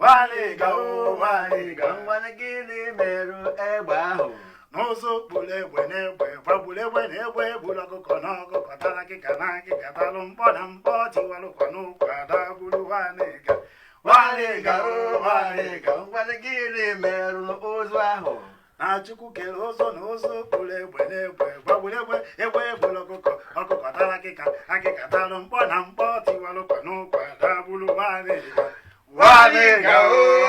Nwanyịga o nwanyịga nwanne gịnị merụ egbe ahụ na ụzụ kpụrụ egbe na egbe gbagburu egbe na egbe gburu ọkụkọ na ọkụkọ tara akịka na akịka tara mkpọ na mkpọ tiwara ụkwa na ụkwa dagburu nwanyịga nwanyịga o nwanyịga nwanne gịnị merụ ụzụ ahụ na Chukwu kere ụzụ na ụzụ kpụrụ egbe na egbe gbagburu egbe egbe gburu ọkụkọ ọkụkọ tara akịka akịka tara mkpọ na mkpọ tiwara ụkwa na ụkwa dagburu nwanyịga. Nwanyịga, oo.